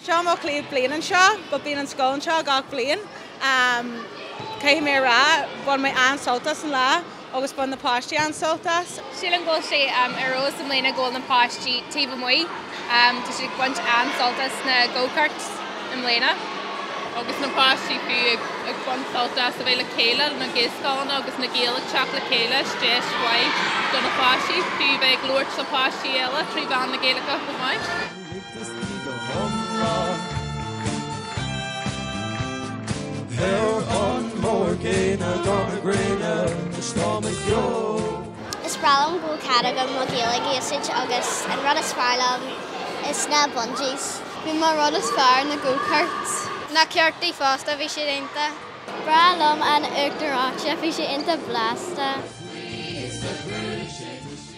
Seo mo chéad bhliain anseo, but bíonn an scoil anseo gach bliain. Caithfidh mé a rá, bhain mé an-sult as an lá agus bhain na páistí an-sult as. Sílim go bhfuil sé ar fheabhas i mbliana go bhfuil na páistí taobh amuigh. Tá siad ag baint an-sult as na go-karts i mbliana. Agus do na páistí fiú ag baint sult as a bheith le chéile, na gaelscoileanna agus na Gaeil ag teacht le chéile, is deis mhaith do na páistí fiú a bheith ag labhairt le páistí eile trí mheán na Gaeilge chomh maith. Is breá liom go bhfuil cead agam mo Ghaeilge a úsáid agus an rud is fearr liom is na bungees. Ba é mo rud is fearr na go karts. Na cártaí fosta, bhí siad iontach. Breá liom an uachtar reoite, bhí sé iontach blasta.